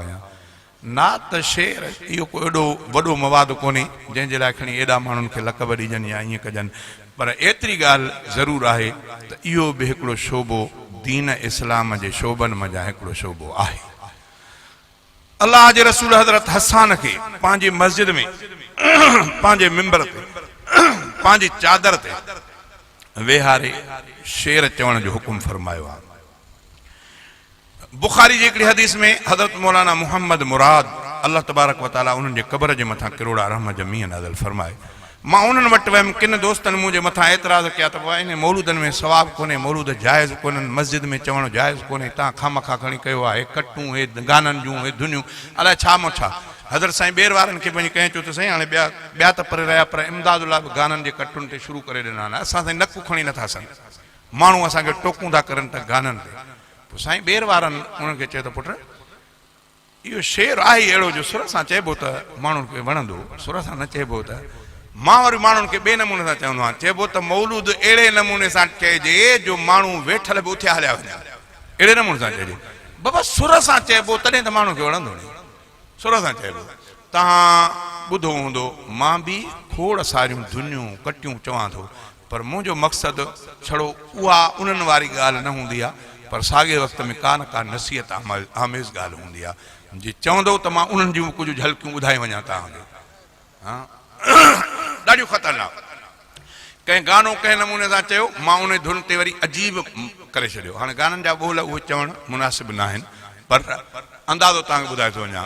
آهيان. نعت ته شعر اهو ڪو ايڏو وڏو مواد ڪونهي جنهن جي لاء کڻي ايڏا ماڻهن کي لقب ڏجن يا ائين ڪجن پر ايتري ڳالهه ضرور آهي ته اهو به هڪڙو شعبو دين اسلام جي شعبن منجهان هڪڙو شعبو آهي. الله جي رسول حضرت حسان کي پنهنجي مسجد ۾ پنهنجي ممبر تي پنهنجي چادر تي ويهاري شعر چوڻ جو حڪم فرمايو آهي. بخاري جي هڪڙي حديث ۾ حضرت مولانا محمد مراد الله تبارڪ و تعالي انهن جي قبر جي مٿان ڪروڙا رحم جا مينهن نازل فرمائي. مان انهن وٽ ويم ڪن دوستن منهنجي مٿان اعتراض ڪيا ته بابا انهن مولودن ۾ ثواب ڪونهي مولود جائز ڪونهن مسجد ۾ چوڻ جائز ڪونهي تان خامخا کڻي ڪيو آهي ڪٽون هي گانن جون هي ڌنيون الاء ڇا مون ڇا حضرت سائين ٻير وارن کي وڃي ڪهين چو ته سائين هاڻي ٻيا ٻيا ته پري رهيا پر امداد الله به گانن جي ڪٽون تي شروع ڪري ڏنا آهن اسان سائين نڪ کڻي نٿا سگهون ماڻهو اسان کي ٽوڪون ٿا ڪرن ته گانن تي پوء سائين ٻير وارن انهن کي چيو ته پٽ اهو شعر آهي ئي اهڙو جو سر سان چئبو ته ماڻهن کي وڻندو سر سان نه چئبو ته مان وري ماڻهن کي ٻئي نموني سان چوندو آهيان چئبو ته مولود اهڙي نموني سان چئجي جو ماڻهو ويٺل به اٿيا هليا وڃن اهڙي نموني سان چئجي بابا سر سان چئبو تڏهن ته ماڻهن کي وڻندو ني سر سان چئبو توهان ٻڌو هوندو مان به کوڙ ساريون ڌنيون ڪٽيون چوان ٿو پر منهنجو مقصد ڇڙو اها انهن واري ڳالهه نه هوندي آهي پر ساڳئي وقت ۾ ڪا نه ڪا نصيحت آميز ڳالهه هوندي آهي جي چوندو ته مان انهن جون به ڪجهه جهلڪيون ٻڌائي وڃان توهان کي ڏاڍيون خطرناڪ ڪنهن گانو ڪنهن نموني سان چيو مان انهي ڌن تي وري عجيب ڪري ڇڏيو هاڻي گانن جا ٻول اهي چوڻ مناسب ناهن پر اندازو توهان کي ٻڌائي ٿو وڃان.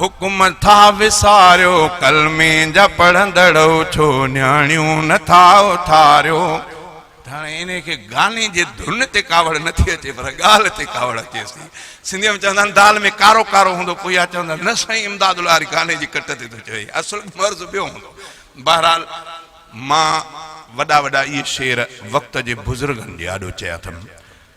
حڪم ٿا وساريو ڪلمي جا پڙهندڙ اٿو نياڻيون نه ٿا اٿاريو ته هاڻي انهي کي گاني جي ڌن تي ڪاوڙ نه ٿي اچي پر ڳالهه تي ڪاوڙ اچيس ٿي سنڌي ۾ چوندا آهن دال ۾ ڪارو ڪارو هوندو پوء اها چوندا نه سائين امداد لغاري گاني جي ڪٽ تي ٿو چوي اصل مرض ٻيو هوندو بهرحال مان وڏا وڏا اهي شعر وقت جي بزرگن جي آڏو چيا اٿم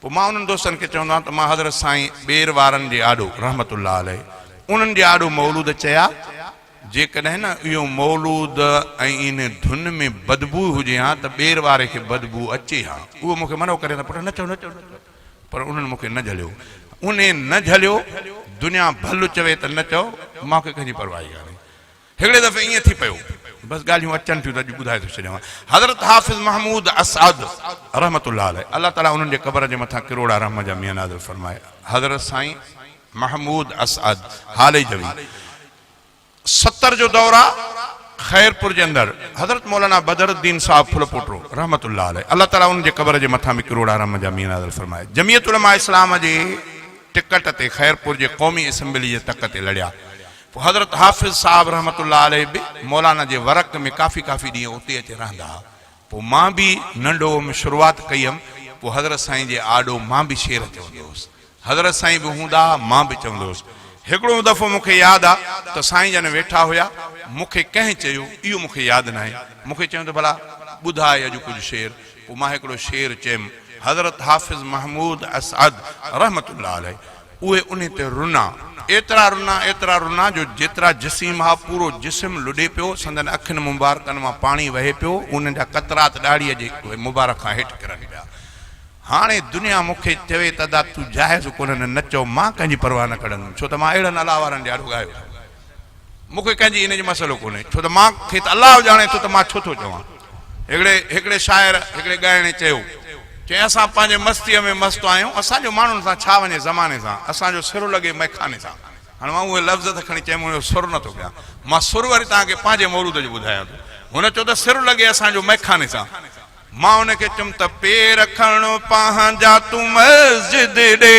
پوء مان انهن دوستن کي چوندو آهيان ته مان حضرت سائين ٻير وارن جي آڏو رحمت الله عليه انهن جي آڏو مولود چيا، جيڪڏهن نه اهو مولود ۽ انهي ڌن ۾ بدبوء هجي ها ته ٻير واري کي بدبوء اچي ها. اهو مون کي منع ڪري ته پٽ نه چئو نه چئو نه چئو پر انهن مون کي نه جهليو. انهي نه جهليو. دنيا ڀل چوي ته نه چئو مانکي ڪنهن جي پرواهي ڪانهي. هڪڙي دفعي ائين ٿي پيو، بس ڳالهيون اچن ٿيون ته اڄ ٻڌائي ٿو ڇڏيان. حضرت حافظ محمود اسعد رحمة الله عليه الله تعاليٰ انهن جي قبر جي مٿان ڪروڙا رحم جا مينهن نازل فرمائي حضرت سائين محمود اسعد هاليجوي ستر جو دور آ خيرپور جي اندر حضرت مولانا بدر الدين صاحب ڦلپوٽو رحمة الله عليه الله تعاليٰ انهن جي قبر جي مٿان به ڪروڙا رحم جا مينهن نازل فرمائي جمعيت علماء اسلام جي ٽڪٽ تي خيرپور جي قومي اسمبلي جي تڪ تي لڙيا حضرت حافظ صاحب رحمة الله عليه به مولانا جي ورق ۾ ڪافي ڪافي ڏينهن اتي اچي رهندا ها. پوء مان به ننڍ هئم، شروعات ڪئي هئم، پوء حضرت سائين جي آڏو مان به شعر چوندو هوس. حضرت سائين به هوندا ها، مان به چوندو هوس. هڪڙو دفعو مون کي ياد آ ته سائين جن ويٺا هيا، مون کي ڪنهن چيو، اهو مون کي ياد ناهي، مون کي چيائون ته ڀلا ٻڌاء اڄ ڪجهه شعر، پوء مان هڪڙو شعر چيم. حضرت حافظ محمود اسعد رحمة الله عليه اهي انهي تي رنا، ايترا رنا، ايترا رنا جو جيترا جسيم ها پورو جسم لڏي پيو، سندن اکين مبارڪن مان پاڻي وهي پيو، انهن جا قطرات ڏاڙهيء جي مبارڪ کان هيٺ ڪرن پيا. هاڻي دنيا مون کي چوي ته ادا تون جاهز ڪونهين نه چئو، مان ڪنهن جي پرواهه نه ڪڙندم، ڇو ته مان اهڙن الله وارن جي آڏو ڳايو ٿو. مون کي ڪنهن جي ان جو مسئلو ڪونهي، ڇو ته مان کي ته الله ڄاڻي ٿو ته مان ڇو ٿو چوان. هڪڙي هڪڙي شاعر، هڪڙي ڳائڻي چيو. چيائين اسان پنهنجي مستيء ۾ مست آهيون، اسان جو ماڻهن سان ڇا وڃي زماني سان، اسان جو سر لڳي مئخاني سان. هاڻ مان اهي لفظ ته کڻي چئي مون جو سر نه ٿو ڪيان. مان سر وري توهان کي پنهنجي مورود جو ٻڌايان ٿو. هن چيو ته سر لڳي اسان جو مئخاني سان. مان هن کي چيم ته پير کڻ پنهنجا تون مسجد ڏي.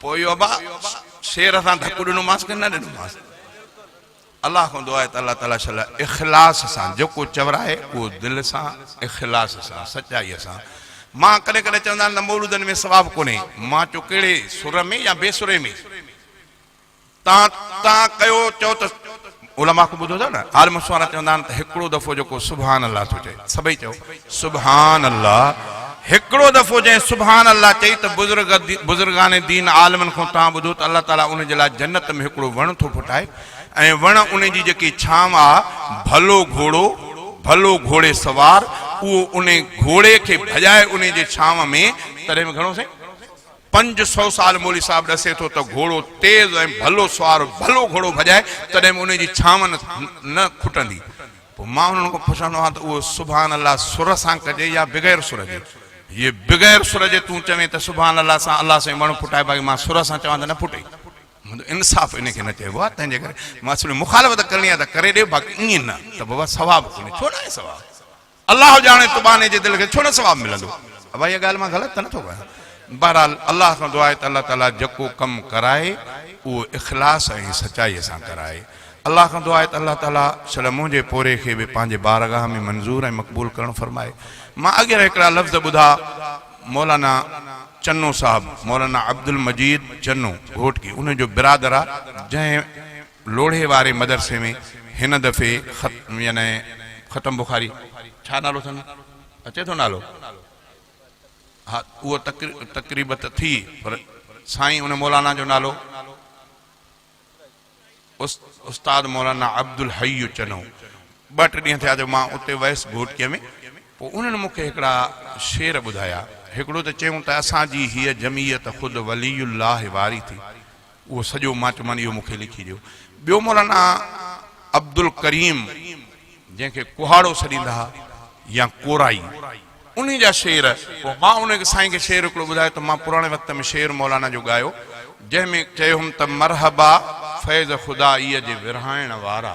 پوء اهو ابا شير سان ڌڪ ڏنومانس ڪي نه ڏنومانس؟ الله کان دعا آهي ته الله تعاليٰ شل اخلاص سان جيڪو چوراهي اهو دل سان اخلاص سان سچائي سان مان ڪڏهن ڪڏهن چوندا آهن ته مولودن ۾ ثواب ڪونهي مان چيو ڪهڙي سر ۾ يا بي سري ۾؟ تان تان ڪيو چئو ته علماء کان ٻڌو ٿا نه عالم سوانا چوندا آهن ته هڪڙو دفعو جيڪو سبحان الله ٿو چئي سڀئي چئو سبحان الله هڪڙو دفعو جنهن سبحان الله چئي ته بزرگ بزرگان دين عالمن کان تان ٻڌو ته الله تعالي ان جي لاء جنت ۾ هڪڙو وڻ ٿو ڦٽائي ۽ وڻ ان جي جيڪي ڇانو آ ڀلو گهوڙو ڀلو گهوڙي سوار اهو ان گهوڙي کي ڀڄائي ان جي ڇانو ۾ تڏهن به گهڻو سائين پنج سؤ سال مولوي صاحب ڏسي ٿو ته گهوڙو تيز ۽ ڀلو سوار ڀلو گهوڙو ڀڄائي تڏهن به انهي جي ڇانون نه کٽندي. پوء مان انهن کان پڇندو آهيان ته اهو سبحان الله سر سان ڪجي يا بغير سر جي؟ جي بغير سر جي تون چوين ته سبحان الله سان الله سائين وڻ ڦٽائي باقي مان سر سان چوان ته نه ڦٽي. منهنجو انصاف انهي کي نه چئبو آهي تنهن جي ڪري مان سمجهندو آهيان مخالفت ڪرڻي آهي ته ڪري ڏي باقي ائين نه ته بابا ثواب ڪونهي. ڇو ناهي ثواب؟ الله ڄاڻي تو ٻانهي جي دل کي ڇو نه ثواب ملندو. ابا اها ڳالهه مان غلط ته نه ٿو ڪيان. بهرحال الله کان دعا آهي ته الله تعاليٰ جيڪو ڪم ڪرائي اهو اخلاص ۽ سچائي سان ڪرائي. الله کان دعا آهي ته الله تعاليٰ سڙ منهنجي پوري کي به پنهنجي بارگاهه ۾ منظور ۽ مقبول ڪرڻ فرمائي. مان اڳيئن هڪڙا لفظ ٻڌا مولانا چنو صاحب، مولانا عبدالمجيد چنو گهوٽڪي انهن جو برادر آ جنهن. لوڙهي واري مدرسي ۾ هن دفعي خت يعني ختم بخاري ڇا نالو اٿن اچي ٿو نالو ها اهو تقريب ته ٿي پر سائين ان مولانا جو نالو استاد مولانا عبدالحي چنو ٻه ٽي ڏينهن ٿيا جو مان اتي ويس گهوٽڪي ۾ پوء انهن مون کي هڪڙا شعر ٻڌايا هڪڙو ته چيون ته اسان جي هيء جميعت خود ولي الله واري ٿي اهو سڄو ماٽمان اهو مونکي لکي ڏيو. ٻيو مولانا عبدالڪريم جنهن کي ڪهاڙو سڏيندا ها يا ڪورائي انهي جا شعر پوء مان ان سائين کي شعر هڪڙو ٻڌايو ته مان پراڻي وقت ۾ شعر مولانا جو ڳايو جنهن ۾ چيو هوم ته مرحبا فيض خدائيء جي ورهائڻ وارا.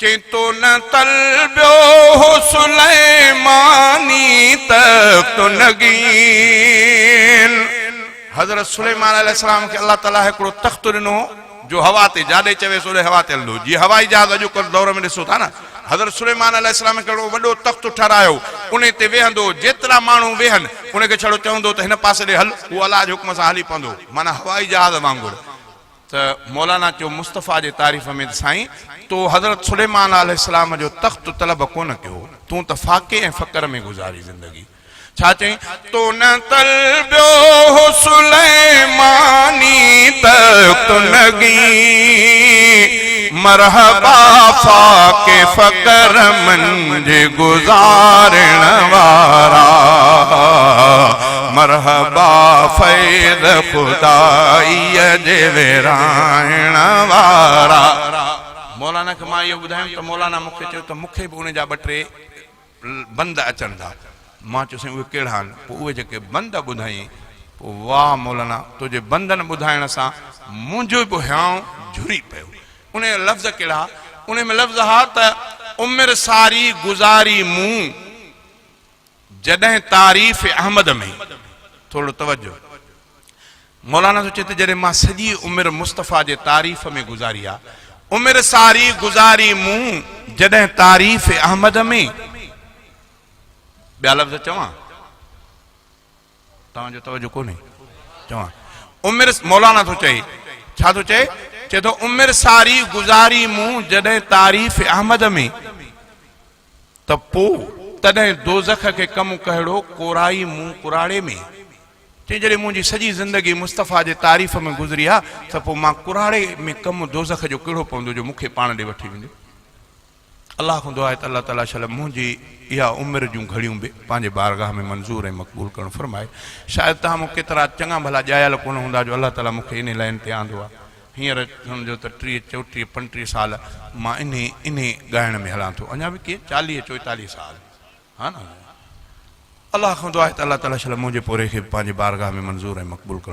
ڪنهن تو نه طلبيو هو سليماني تخت و نگين. حضرت سليمان عليه السلام کي الله تعاليٰ هڪڙو تخت ڏنو هو جو هوا تي جاڏي چويس اوڏي هوا تي هلندو هو جيئن هوائي جهاز اڄوڪلهه دور ۾ ڏسو ٿا نه حضرت سليمان عليه السلام کي هڪڙو وڏو تخت ٺهرايو انهي تي ويهندو هو جيترا ماڻهو ويهن انهي کي ڇڙو چوندو هو ته هن پاسي ڏي هل اهو الله جي حڪم سان هلي پوندو هو معنيٰ هوائي جهاز وانگر ته مولانا چيو مصطفيٰ جي تعريف ۾ ته سائين تو حضرت سليمان عليه السلام جو تخت طلب ڪونه ڪيو، تون ته فاقي ۽ فقر ۾ گذاري زندگي. ڇا چيائين؟ تو نه طلبيو هو سليماني تخت نگي، مرحبا فاقي فقر منجهه گذارڻ وارا. مرحبا فيض خدائيء جي ورهائڻ وارا. مولانا کي مان اهو ٻڌايم ته مولانا مون کي چيو ته مون کي به ان جا ٻه ٽي بند اچن ٿا. مان چيو سائين اهي ڪهڙا آهن؟ پوء اهي جيڪي بند ٻڌائين. پوء واهه مولانا تنهنجي بندن ٻڌائڻ سان منهنجو به هيانء جهري پيو. انهيء جا لفظ ڪهڙا ها؟ انهيء ۾ لفظ ها ته عمر ساري گذاري مون. جڏهن تعريف احمد ۾، ٿورڙو توجه، مولانا ٿو چئي ته جڏهن مان سڄي عمر مصطفيٰ جي تعريف ۾ گذاري آ، عمر ساري گذاري مون جڏهن تعريف احمد ۾، ٻيا لفظ چوان؟ توهان جو توجه ڪونهي چوان عمر مولانا ٿو چئي ڇا ٿو چئي چئي ٿو عمر ساري گذاري مون جڏهن تعريف احمد ۾ ته پو تڏهن دوزخ کي ڪم ڪهڙو ڪورائي مون ڪراڙي ۾ چئي جڏهن منهنجي سڄي زندگي مصطفيٰ جي تعريف ۾ گذري آ ته پو مان ڪراڙي ۾ ڪم دوزخ جو ڪهڙو پوندو جو مون کي پاڻ ڏي وٺي ويندو الله کان دعا آهي ته الله تعاليٰ شل منهنجي اها عمر جون گهڙيون به پنهنجي بارگاهه ۾ منظور ۽ مقبول ڪرڻ فرمائي. شايد توهان مون ڪيترا چڱا ڀلا ڄايل ڪونه هوندا جو الله تعاليٰ مون کي انهي لائين تي آندو آهي. هينئر سمجهو ته ٽيهه، چوٽيهه، پنجٽيهه سال مان انهي انهي ڳائڻ ۾ هلان ٿو. اڃا به ڪيئن چاليهه چوئيتاليهه سال ها نه. الله کان دعا آهي ته الله تعاليٰ شل منهنجي پورهئي کي به پنهنجي بارگاهه ۾ منظور ۽ مقبول ڪرڻ.